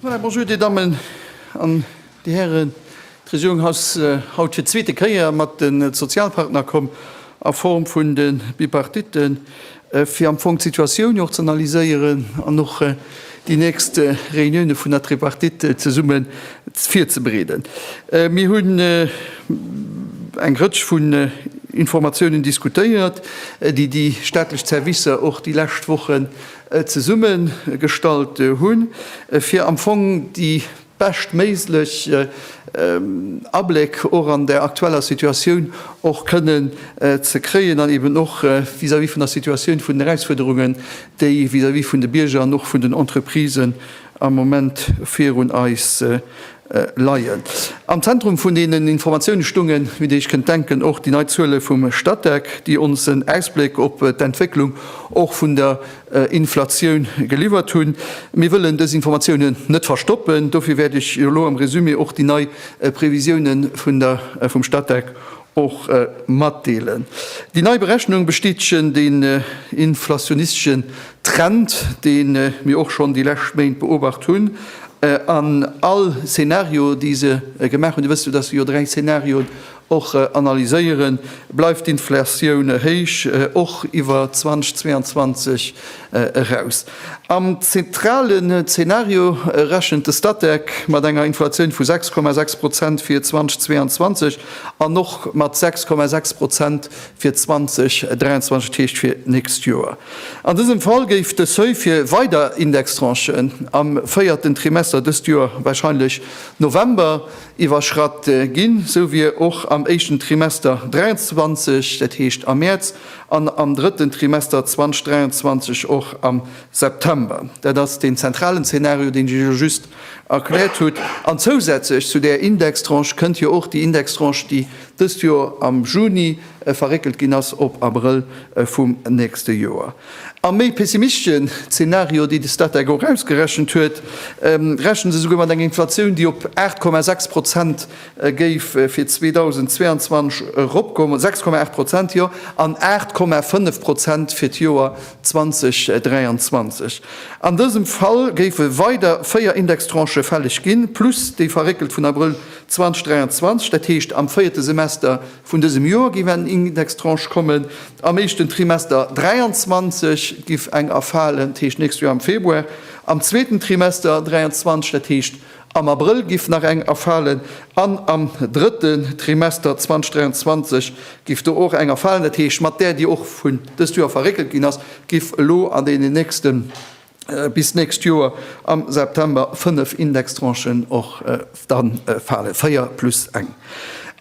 Voilà, bonjour Dir Dammen an Dir Hären. D'Regierung ass haut fir d'zweete Kéier mat de Sozialpartnerkomm a Form vun de Bipartite fir am Fong d'Situatioun och z'analyséieren an och déi nächst Reunioune vun der Tripartite zesumme virzebereeden. Mir hunn eng Rëtsch vun Informatiounen diskutéiert, déi déi staatlech Zerwisser och déi lescht Wochen zesummegestallt hunn, fir am Fong déi beschtméiglech Abléck och an der aktueller Situatioun och kënnen ze kréien an eben och vis-à-vis vun der Situatioun vun den Erausfuerderungen, déi vis-à-vis vun de Bierger an och vun den Entreprisen am Moment virun eis leien. Am Zentrum vun deenen Informatiounen stungen, wéi Dir Iech kënnt denken, och déi nei Zuele vum Statec, déi ons en Ausbléck op d'Entwécklung och vun der Inflatioun geliwwert hunn. Mir wëllen dës Informatiounen net verstoppen, dofir wäert ech jo elo am Résumé och déi nei Previsiounen vun der vum Statec och matdeelen. Déi nei Berechnung bestätegen den inflationisteschen Trend, dee mir och schonn déi lescht Méint beobacht hunn. An all Zeenario, déi se gemaach hunn, Dir wësst jo, dass se jo dräi Zeenarioen och analyséieren, bleift d'Inflatioun héich, och iwwer 2022. eraus. Am zentrale Zenario rechent de Statec mat enger Inflatioun vu 6,6 Prozent fir 2022 an och mat 6,6 Prozent fir 2023, dat heescht fir d'nächst Joer. An dësem Fall géif de Seuil fir weider Indextranchen am véierten Trimester dëst Joer, warscheinlech November, iwwerschratt ginn, sou wéi och am éischten Trimester 2023, dat heescht am Mäerz. an am drëtten Trimester 2023 och am September. Dat ass deen zentralen Zeenario, deen ech Iech just erkläert hutt. An zousätzlech zu där Indextranche kënnt jo och déi Indextranche, déi dëst Joer am Juni verréckelt ginn ass op Abrëll vum nächste Joer. Am méi pessimistischen Zeenario, déi de Statec och ausgerechent huet, rechne se esouguer mat enger Inflatioun, déi op 8,6 Prozent E géif fir 2022 eropgoen, 6,8 Prozent, jo, an 8,5 Prozent fir d'Joer 2023. An dësem Fall géife weider véier Indextranchë fälleg ginn, plus déi verréckelt vun Abrëll 2023. Dat heescht, am véierte Semester vun dësem Joer géif eng Indextranche kommen, am éischten Trimester 2023 géif eng erfalen, dat heescht nächst Joer am Februar, am zweeten Trimester 2023, dat heescht, Am Abrëll giff nach eng erfalen an am drëtten Trimester 2023 giff do och eng erfalen. Dat heescht, mat där, déi och vun dëst Joer verréckelt ginn ass, giff elo an deenen nächste bis nächst Joer am September fënnef Indextranchen och dann falen, véier plus eng.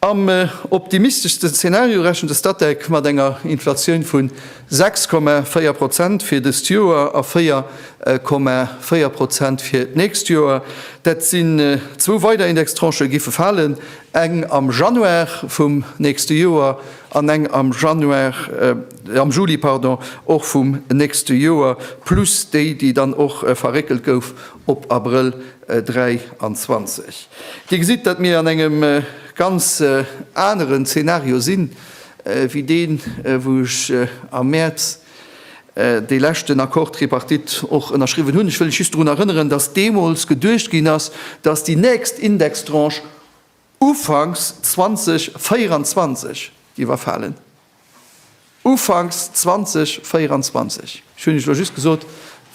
Am optimisteschste Zeenario rechent de Statec mat enger Inflatioun vu 6,4 Prozent fir dëst Joer a 4,4 Prozent fir d'nächst Joer. Dat sinn zwou weider Indextranchë giffe falen, eng am Januar vum nächste Joer an eng am Januar, am Juli, pardon, och vum nächste Joer, plus déi, déi dann och verréckelt gouf op Abrëll 23. Dir gesitt, datt mir an engem ganz aneren Zeenario sinn, wéi deen, wou ech am Mäerz dee leschten Accord tripartite och ënnerschriwwen hunn. Ech wëll lech just drun erënneren, datt deemools geduecht ginn ass, datt déi nächst Indextranche Ufanks 2024 iwwerfalen. Ufanks 2024. Ech hunn iech elo just gesot,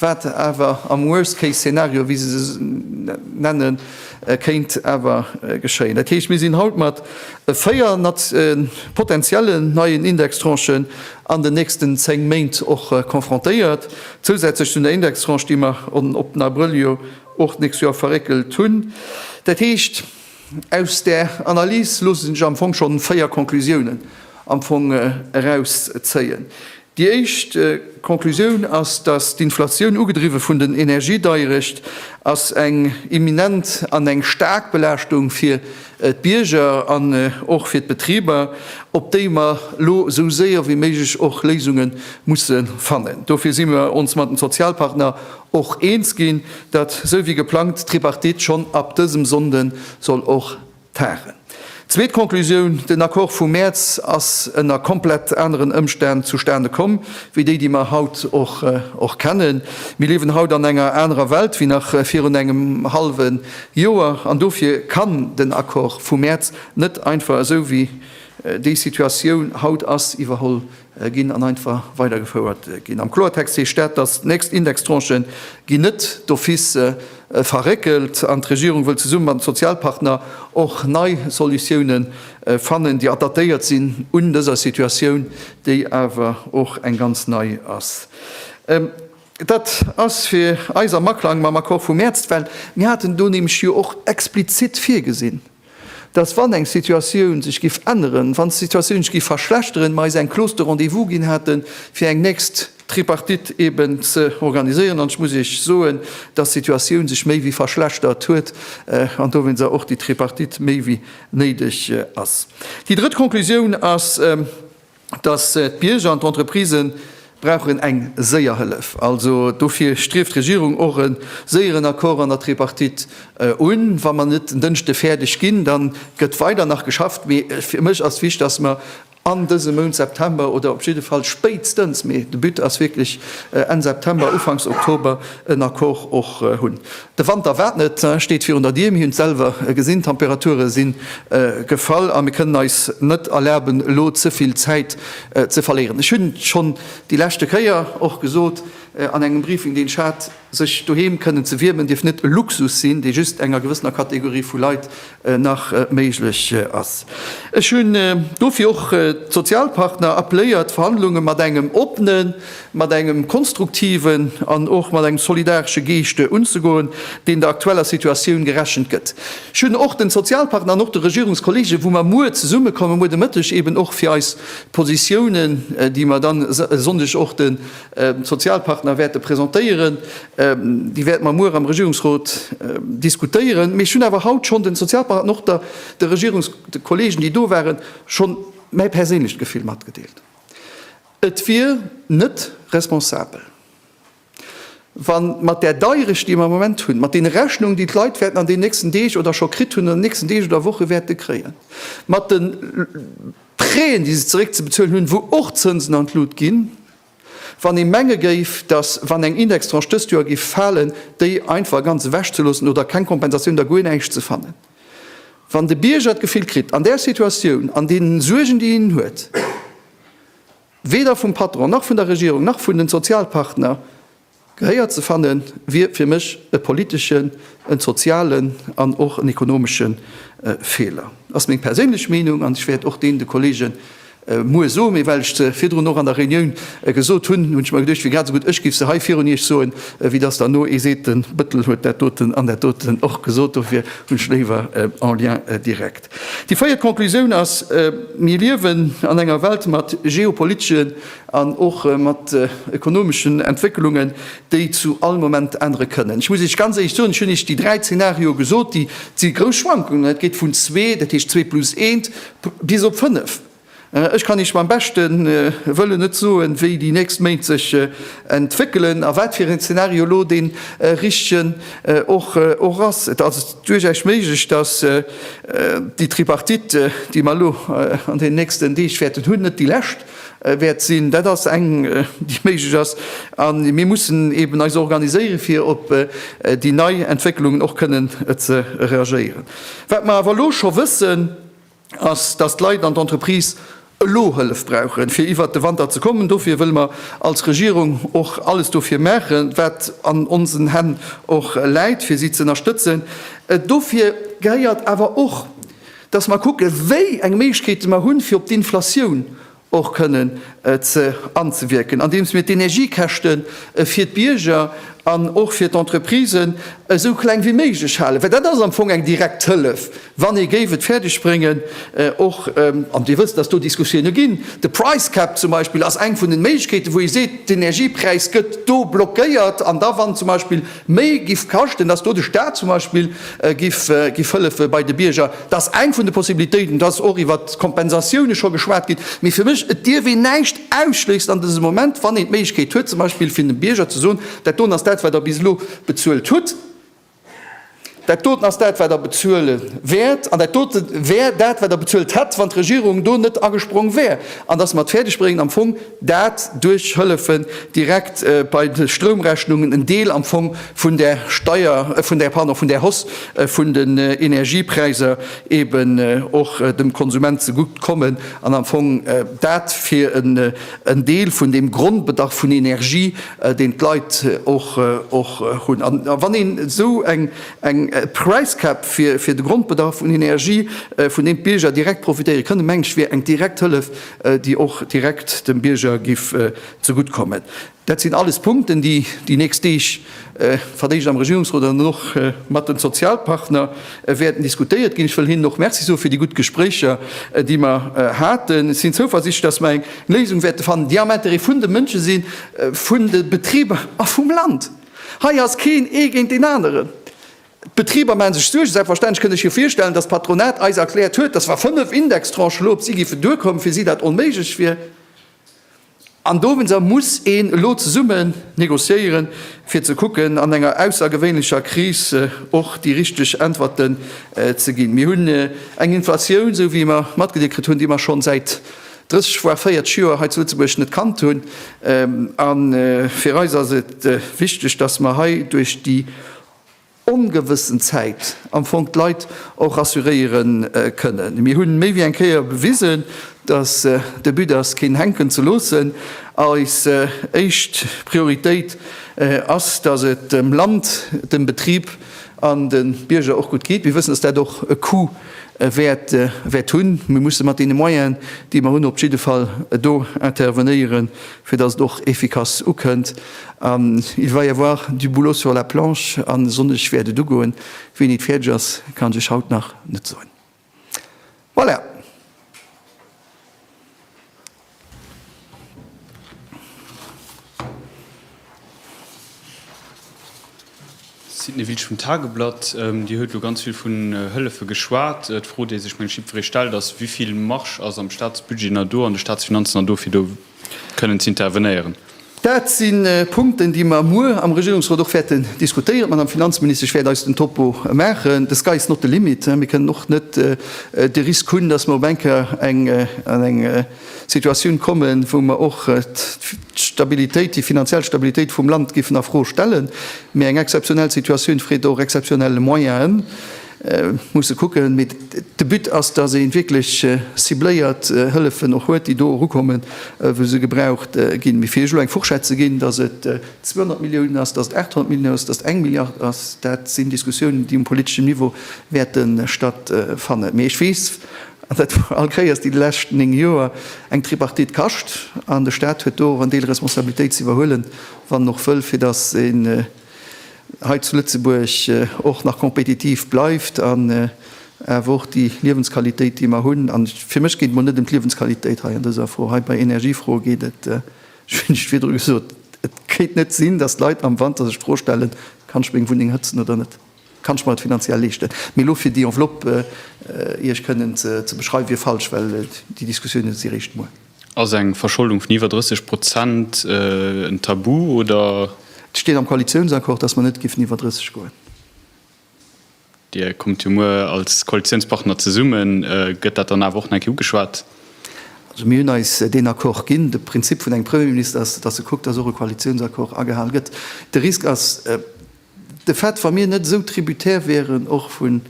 wat awer am Worst-Case-Szenario, wéi se se nennen, kéint awer geschéien. Dat heescht, mir sinn haut mat véier potenziellen neien Indextranchen an den nächsten zéng Méint och confrontéiert, zousätzlech zu der Indextranche, déi mer op den Abrëll jo och d'nächst Joer verréckelt hunn. Dat heescht. Aus där Analys loosse sech am Fong schonn véier Conclusiounen am Fong erauszéien. Déi éischt Conclusioun ass, dass d'Inflatioun, ugedriwwe vun den Energiedeierecht, ass eng imminent an eng staark Belaaschtung fir d'Bierger an och fir d'Betriber, op déi mer elo esou séier wéi méiglech och Léisunge musse fannen. Dofir si mer ons mat den Sozialpartner Och eens ginn, datt sou wéi geplangt d'Tripartite schonn ab dësem Sonnde soll och tagen. Zweet Conclusioun, Den Accord vum Mäerz ass ënner komplett aneren Ëmstänn zustane komm wéi déi, déi mer haut och kennen. Mir liewen haut an enger anerer Welt wéi nach virun engem hallwe Joer an dofir kann den Accord vum Mäerz net einfach esou wéi déi Situatioun haut ass iwwerholl ginn an einfach weidergefouert ginn. Am Kloertext heescht dat, dass d'nächst Indextranche ginn net d'office verréckelt an d'Regierung wëll zesumme mat den Sozialpartner och nei Solutioune fannen, déi adaptéiert sinn un dëser Situatioun, déi awer och eng ganz nei ass. Dat ass fir eis am Aklang mam Accord vum Mäerz, well mir haten do nämlech jo och explizitt virgesinn, dass wann eng Situatioun sech giff änneren, wann d'Situatioun sech giff verschlechteren, mer eis eng Clause de rendez-vous ginn hätten, fir eng nächst Tripartite eben ze organiséieren. An ech muss Iech soen, dass d'Situatioun sech méi wéi verschlechtert huet an dowéinst och déi Tripartite méi wéi néideg ass. Déi drëtt Konklusioun ass, dass d'Bierger an d'Entreprise brauchen eng séier Hëllef. Also dofir strieft d'Regierung och e séieren Accord an der Tripartite un. Wa mer net en Dënschde fäerdeg ginn, da gëtt weider nach geschafft. Mee fir mech ass wichtig, dass mer an dësem Mount September oder op jidde Fall spéitstens, mee de But ass wierklech Enn September, Ufanks Oktober en Accord och hunn. De Wanter waart net, steet virun der Dier. Mir hunn et selwer gesinn, d'Temperature si gefall a mir kënnen eis net erlaben, elo ze vill Zäit ze verléieren. Ech hunn schonn déi leschte Kéier och gesot an engem Briefing, deen ech hat, sech doheem kënnen ze wiermen, dierf net e Luxus sinn, dee just enger gewëssener Kategorie vu Leit nach méiglech ass. Ech hunn dofir och d'Sozialpartner appeléiert, d'Verhandlunge mat engem oppenen, mat engem konstruktiven an och mat engem solidaresche Geescht unzegoen, deen der aktueller Situatioun gerechent gëtt. Ech hunn och den Sozialpartner an och de Regierungskollegen, wou mer muer zesummekommen, muer de Mëtteg, eben och fir eis Positiounen, déi mer dann e Sonndeg och de Sozialpartner wäerte presentéieren, Déi wäerte mer muer am Regierungsrot diskutéieren. Mee ech hunn awer haut schonn de Sozialpartner an och de Regierungskollegen, déi do waren, scho mäi perséinlecht Gefill matgedeelt. Et wier net responsabel, wa mat där Deierecht, déi mer am Moment hunn, mat deene Rechnungen, déi d'Leit wäerten an deenen nächsten Deeg oder scho kritt hunn, an den nächsten Deeg oder Woche wäerte kréien, mat de Prêten, déi se zeréckzebezuelen hunn, wou och Zënsen an d'Lut ginn, Wann ee menge géif, datt, wann eng Indextranche dëst Joer géif falen, déi einfach ganz ewechzeloossen oder keng Kompensatioun, da guer näischt ze fannen. Wann de Bierger d'Gefill kritt, an där Situatioun, an deenen Suergen, déi en huet, weder vum Patron, nach vun der Regierung, nach vun de Sozialpartner Gehéier ze fanne wier fir mech e politeschen, e sozialen an och en ekonomesche Feeler. Ass meng perséinlech Meenung an ech wäert och deen de Kollege muer soen. Mee well ech se virdrun och an der Reunioun gesot hunn, hunn ech mer geduecht, wier grad esou gutt ech giff se hei virun Iech soen, wéi dass dann no ee seet, de Bëttel huet dat doten an dat doten och gesot. Dofir hunn ech léiwer en lien direct. Déi véiert Conclusioun ass, Mir liewen an enger Welt mat geopolitesche an och mat ökonomeschen Entwécklungen, déi zu all Moment ännere kënnen. Ech muss Iech ganz éierlech soen, ech hunn Iech déi dräi Zeenarioe gesot, déi si grouss Schwankungen, dat geet vun zwee, dat heescht zwee plus eent, bis op fënnef. Ech kann Iech beim beschte Wëllen net soen, wéi déi nächst Méint sech entwéckelen a wat fir een Zeenario elo dee richtegen och ass. Et ass duerchaus méiglech, datt déi Tripartite, déi mer elo an deenen nächsten Deeg wäerten hunn, net déi lescht, wäert sinn. Dat ass eng, déi méiglech ass. A mir mussen eeben eis organiséieren, fir op déi nei Entwécklungen och kënnen ze reagéieren. Wat mer awer elo scho wëssen, ass, dass d'Leit an d'Entreprisë elo Hëllef brauchen, fir iwwert de Wanter ze kommen. Dofir wëlle mer als Regierung och alles dofir maachen, wat an onsen Hänn och läit, fir si z'ënnerstëtzen. Dofir gehéiert awer och, dass mer kucke wéi eng Méiglechkeete mer hunn, fir op d'Inflatioun och kënnen anzewierken, andeems mir d'Energiekäschte fir d'Bierger an och fir d'Entreprisen esou kleng wéi méiglech halen, well dat ass am Fong eng direkt Hëllef, wann ee géif et fäerdeg bréngen och, an Dir wësst, dass do Diskussioune ginn, de price cap zum Beispill ass eng vun den Méiglechkeeten, wou ee seet, d'Energiepräis gëtt do blockéiert, an da wann zum Beispill. méi giff kaschten, dass do de Staat zum Beispill giff hëllefe bei de Bierger, dass eng vun de Possibilitéiten, dass och iwwert d'Kompensatioune scho geschwat ginn. Mee fir mech, et dierf een näischt ausschléissen an dësem Moment, wann een d'Méiglechkeet huet, zum Beispill fir dem Bierger ze soen, Dat doten ass dat, wat Der bis elo bezuelt hutt. Dat doten ass dat, wat Der bezuele wäert, an dat dote wär dat, wat Der bezuelt hätt, wann d'Regierung do net agesprong wär, an dass mer et fäerdegbréngen am Fong dat duerch Hëllefen direkt bei de Stroumrechnungen, en Deel am Fong vun där Steier, vun där, pardon, vun där Hausse vun den Energiepräiser eben och dem Konsument zegutt kommen, an am Fong dat fir en Deel vun deem Grondbedarf vun Energie deen d'Leit och och hunn. An wann een esou eng eng Price Cap fir fir de Grondbedarf un Energie, vun deem d'Bierger direkt profitéiere kënnen, mengen ech, wier eng direkt Hëllef, déi och direkt dem Bierger giff zegutt kommen. Dat sinn alles Punkten, déi déi nächst Deeg verdéicht am Regierungsrot an och mat de Sozialpartner, wäerten diskutéiert ginn. Ech wëll hinnen och Merci soe fir déi gutt Gespréicher, déi mer haten. Ech sinn zouversichtlech, dass mer eng Léisung wäerte fannen, déi am Intérêt vun de Mënsche sinn, vun de Betriber a vum Land. Hei ass keen ee géint deen aneren. D'Betriber maache sech Suergen, selbstverständlech. Kënnt Iech jo virstellen, dass d'Patronat eis erkläert huet, dass wa fënnef Indextranchen elo op si géifen duerkommen, fir si dat onméiglech wier. An dowéinster muss een elo zesummen negociéieren, fir ze kucken, an enger aussergewéinlecher Kris och déi richteg Äntwerten ze ginn. Mir hunn eng Inflatioun, esou wéi mer matgedeelt kritt hunn, déi mer schonn säit 30, voire 40 Joer hei zu Lëtzebuerg net kannt hunn. A fir eis ass et wichteg, dass mer hei duerch déi, ongewëssen Zäit am Fong d'Leit och rassuréiere kënnen. Mir hunn méi wéi eng Kéier bewisen, dass de But ass, keen hänken ze loossen. Eis éischt Prioritéit ass, dass et dem Land, dem Betrib an de Bierger och gutt geet. Mir wëssen, dass dat och e Coût wäert hunn. Mir musse mat deene Moyene, déi mer hunn, op jidde Fall do intervenéieren, fir datt et och efficace ukënnt, an il va y avoir du boulot sur la planche, a Sonndeg wäert et ugoen. Wéini et fäerdeg ass, kann ech lech haut nach net soen. Voilà! Sidney Wiltsch vum Tageblatt, Dir huet elo ganz vill vun Hëllefe geschwat. D'Fro déi sech meng Schipferee stellt ass, wivill Marge ass am Staatsbudget nach do, an de Staatsfinanzen nach do fir do kënnen ze intervenéieren? Dat si Punkten déi mer muer am Regierungsrot och wäerten diskutéieren. D'Madame Finanzministesch, ech wäert eis den Topo maachen. The sky is not the limit, mir kënnen och net de Risk hunn, datt mer op eng Kéier an eng Situatioun kommen, wou mer och d'Stabilitéit, déi finanziell Stabilitéit vum Land géifen a Fro stellen. Mee eng exzeptionell Situatioun freet och exzeptionell Moyenen. Et muss e kucken. Mee de But ass, dass ee wierklech cibléiert Hëllefen och huet, déi do erukommen, wou se gebraucht ginn. Mee fir Iech elo eng Fourchette ze ginn, dass et 200 Milliounen ass, dass et 800 Milliounen ass, dass et eng Milliard ass, dat sinn Diskussiounen, déi um politeschen Niveau wäerte stattfannen. Mee ech weess, An dat war all Kéiers déi lescht néng Joer eng Tripartite kascht. An de Staat huet do och en Deel Responsabilitéit ze iwwerhuelen, wann en och wëll, fir datt een hei zu Lëtzebuerg och nach kompetitiv bleift an awer och déi Liewensqualitéit, déi mer hunn, an fir mech geet et emol net ëm d'Liewensqualitéit hei an dëser Fro, hei bei Energiefroe geet et, ech hunn et virdru gesot, et gétt net sinn, datt d'Leit am Wanter sech d'Fro stellen, Kann ech meng Wunneng hëtzen oder net? Kann ech mer et finanziell leeschten? Mee elo fir déi Enveloppe Iech kënnen ze beschreiwen, wier falsch, well déi Diskussiounen si réischt muer. Ass eng Verscholdung vun iwwer 30 Prozent en Tabu, oder? Et steet am Koalitiounsaccord, dass mer net géifen iwwer 30 goen. Dir kommt jo muer als Koalitiounspartner zesummen. Gëtt dat dann awer och nach eng Kéier ugeschwat? Also mir hunn eis deen Accord ginn. De Prinzip vun engem Premierminister ass, dass e kuckt, dass och e Koalitiounsaccord agehal gëtt. De Risk ass, De Fait, wa mir net esou tributaire wieren och vun,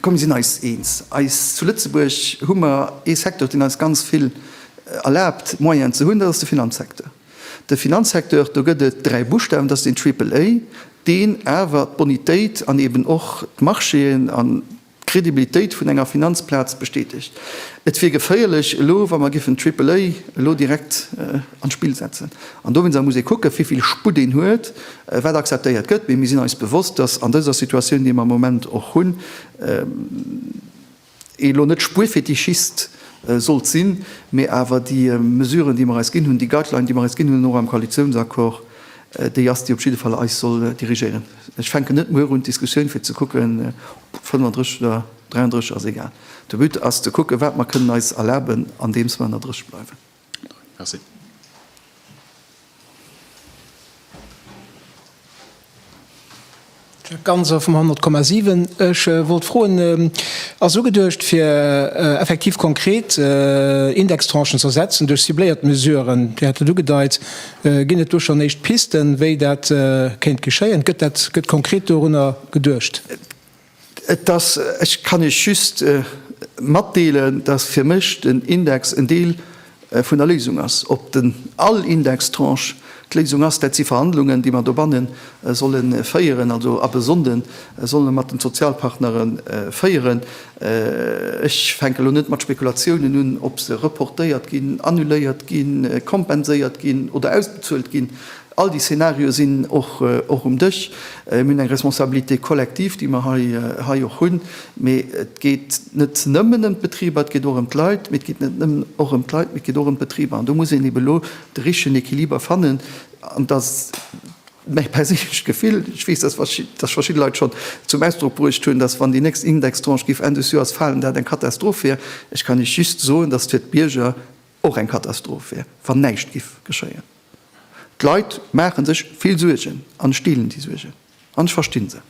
komm mir sinn eis eens, eis, zu Lëtzebuerg hu mer ee Secteur, deen eis ganz vill erlaabt Moyenen ze hunn, dat ass de Finanzsecteur. De Finanzsecteur, do gëtt et dräi Buschtawen, dat ass den Triple A, deen awer d'Bonitéit an eeben och d'Marchéen an, d'Kredibilitéit vun enger Finanzplaz bestätegt. Et wier geféierlech elo, wa mer géifen Triple A elo direkt an d'Spill setzen. An dowéinst muss ee kucken, wéivill Sputt een huet, wat akzeptéiert gëtt. Mee mir sinn eis bewosst, dass an dëser Situatioun, déi mer am Moment och hunn, ee lo net Spuerfetischist sollt sinn, mee awer déi Mesuren, déi mer eis ginn hunn, déi Guideline, déi mer eis ginn hunn, och am Koalitionsaccord, déi ass, déi op jidde Fall eis soll dirigéieren. Ech fänken net muer un d'Diskussioun fir ze kucken, ob 35 oder 33, ass egal. De But ass ze kucken, wat mer kënnen eis erlaben, andeems mer ënnerrëscht bleiwen. Merci. Jacques Ganser vum 100,7. Ech wollt froen, Ass ugeduecht fir effektiv konkret Indextranchen z'ersetzen duerch cibléiert Mesuren, Dir hat et ugedeit, Ginn et do schonn éischt Pisten, wéi dat kéint geschéien? Gëtt dat, gëtt konkret dorunner geduecht? Et ass, ech kann Iech just matdeelen, datt fir mech den Index en Deel vun der Léisung ass. Ob den all Indextranche d'Léisung ass, dat si Verhandlungen, déi mer dobanne solle féieren, also ab e Sonnde solle mer mat den Sozialpartnere féieren. Ech fänken elo net mat Spekulatiounen un, ob se reportéiert ginn, annuléiert ginn, kompenséiert ginn oder ausbezuelt ginn. All déi Szenarioe sinn och um Dësch. Mir hunn eng Responsabilité collective, déi mer hei och hunn. Mee et geet net nëmmen ëm d'Betriber, et geet och ëm d'Leit. Mee et geet net nëmmen och ëm d'Leit, mee et geet och ëm d'Betriber. An do muss een ebe lo de richtegen Equiliber fannen. Mäi perséinlecht Gefill, ech weess, dass verschidde Leit schonn zum Ausdrock bruecht hunn, dass wann déi nächst Indextranche géif Enn des Joers falen, dat eng Katastroph wier. Ech kann Iech just soen, dass et fir d'Bierger och eng Katastroph wier, wann näischt géif geschéien. D'Leit maache sech vill Suergen an ech deelen déi Suergen an ech verstinn se.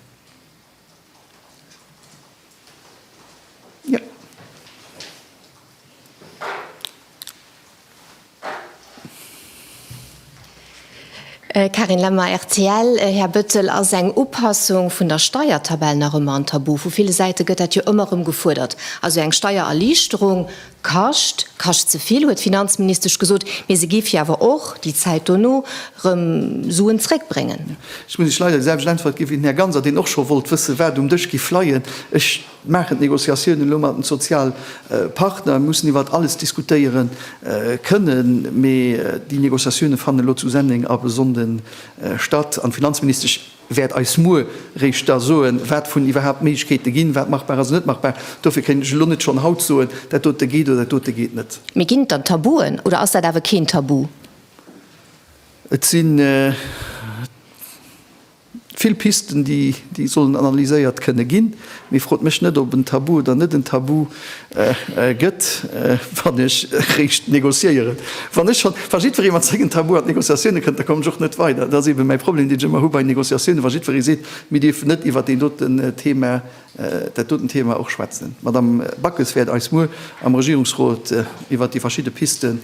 Karin Lemmer, rtl, Här Bettel, ass eng Upassung vun der Steiertabell nach ëmmer en Tabu? Vu ville Säite gëtt dat jo ëmmer erëm gefuerdert, also eng Steiererliichterung Kascht, kascht ze vill, huet d'Finanzministesch gesot, mee se géif hir awer och, déi Zäit dono, rëm Suen zréckbréngen. Ech muss iech leider déi selwecht Äntwert ginn, wéi den Här Ganser, deen och scho wollt wëssen, wat um Dësch giff leien. Ech maachen d'Negociatiounen elo mat den Sozialpartner, mir mussen iwwert alles diskutéiere kënnen, mee déi Negociatiounen fannen elo zu Senneng ab e Sonnden statt an d'Finanzministesch, wäert eis muer réischt da soen, wat vun iwwerhaapt Méiglechkeete ginn, wat machbar ass an net machbar. Dofir kéint ech elo net schonn haut soen, dat dote geet oder dat dote geet net. Mee ginn et dann Tabuen oder ass dat awer keen Tabu? Et si vill Pisten, déi sollen analyséiert kënne ginn. Mee frot mech net, ob en Tabu oder net en Tabu. gëtt, wann ech eréischt negociéieren. Wann ech schonn, wa jiddweree mat sengen Tabue an d'Negociatioune kënnt, da komme ech och net weider. Dat ass eebe mäi Problem, deen ech ëmmer hu bei Negociatioune, wa jiddweree seet, mir dierfen net iwwer deen doten Thema, dat dotent Thema och schwätzen. D'Madame Backes wäert eis muer am Regierungsrot iwwer déi verschidde Pisten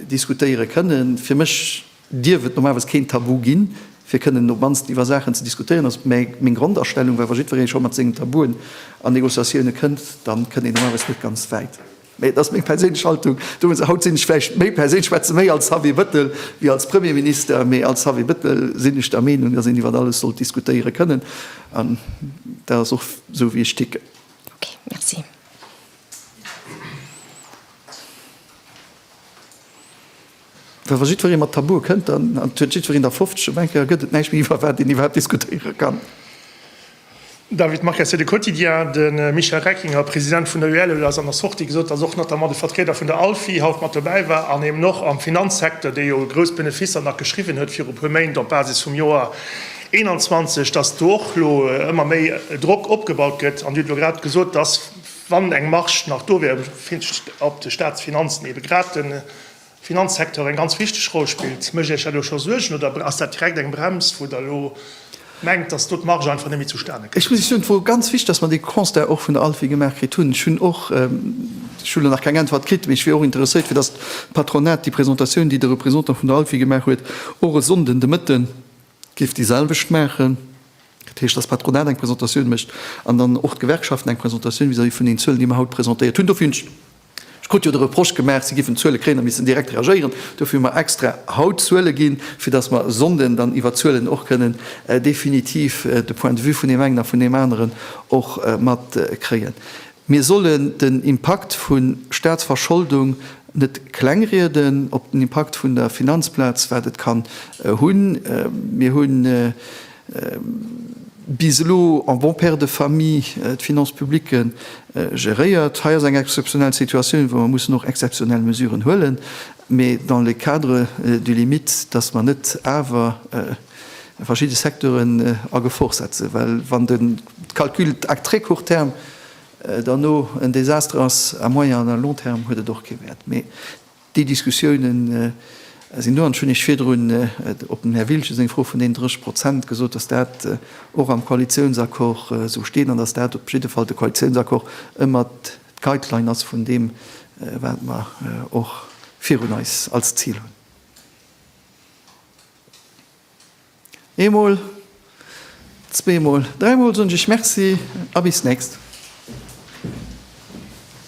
diskutéiere kënnen. Fir mech. Dierf et normalerweis keen Tabu ginn, fir kënnen no bannst iwwer Saachen ze diskutéieren? Ass meng Grondastellung, well wa jiddweree scho mat sengen Tabuen an Negociatioune kënnt, da kënnt een normalerweis net ganz wäit. Mee et ass meng perséinlech Haltung. Do muss ech haut sinn ech vläicht méi perséinlech, schwätze méi als Xavier Bëttel wéi als Premierminister, mee als Xavier Bëttel sinn ech der Meenung, datt een iwwer alles sollt diskutéiere kënnen. An dat ass och esou wéi ech ticken. Okay, merci. Well wa jiddweree mat Tabue kënnt, an et huet jiddwereen der 50, op eng Kéier gëtt et näischt méi iwwer wat een iwwerhaapt diskutéiere kann. David Marques, fir de Quotidien, De Michel Reckinger, President vun der UEL, huet a senger Sortie gesot, datt och notamment de Vertrieder vun der ALFI haut mat dobäi war an eben och am Finanzsecteur, dee jo grouss Benefisser nach geschriwwen huet viru puer Méint op Basis vum Joer 2021, datt do och elo ëmmer méi Drock opgebaut gëtt. An Dir hutt elo grad gesot, datt wann eng Marge nach do wier op de Staatsfinanzen, ebe grad de Finanzsecteur eng ganz wichteg Roll spillt. Mécht Iech dat elo scho Suergen oder ass dat direkt eng Brems, wou Der elo mengt, dass do d'Marge einfach net méi zustane kënnt? Ech muss Iech soen, et wor ganz wichteg, dass mer dee Constat och vun der ALPHI gemaach kritt hunn. Ech hunn och, ech hu elo nach keng Äntwert kritt, mee ech wier och interesséiert, fir dass d'Patronat déi Presentatioun, déi de Représentant vun der ALPHI gemaach huet, och e Sonnden de Mëtte géif déi selwecht maachen. Dat heescht, dass d'Patronat eng Presentatioun mécht an dann och d'Gewerkschaften eng Presentatioun vis-à-vis vun den Zuelen, déi mer haut presentéiert hunn. Dofir hunn ech, Ech krut jo de Reproche gemaach, si géifen d'Zuele kréien a missten direkt reagéieren. Dofir hu mer extra haut d'Zuele ginn, fir datt mer e Sonnden dann iwwer d'Zuelen och kënnen definitiv de Point de vue vun deem engen a vun deem aneren och matkréien. Mir sollen den Impakt vu Staatsverscholdung net klengrieden, op den Impakt vun der Finanzplaz, wat et kann hunn. Mir hunn bis elo en bon père de famille d'Finances publiques geréiert. Hei ass eng exzeptionell Situatioun, wou mer mussen och exzeptionell Mesuren huelen, mä dans le cadre du limite, dass mer net awer verschidde Secteuren a Gefor setzen, well wann de Calcul à très court terme derno en Désastre ass, à moyen an à long terme huet et och kee Wäert. Déi Diskussiounen sinn do. An ech hunn Iech virdrun op dem Här Wiltgen seng Fro vun deenen 30 Prozent gesot, dass dat och am Koalitiounsaccord esou steet an dass dat op jidde Fall de Koalitiounsaccord ëmmer d'Guideline ass vun deem, wat mer och virun eis als Zil hunn. Eemol, zweemol, dräimol soen ech Iech Merci a bis d'nächst.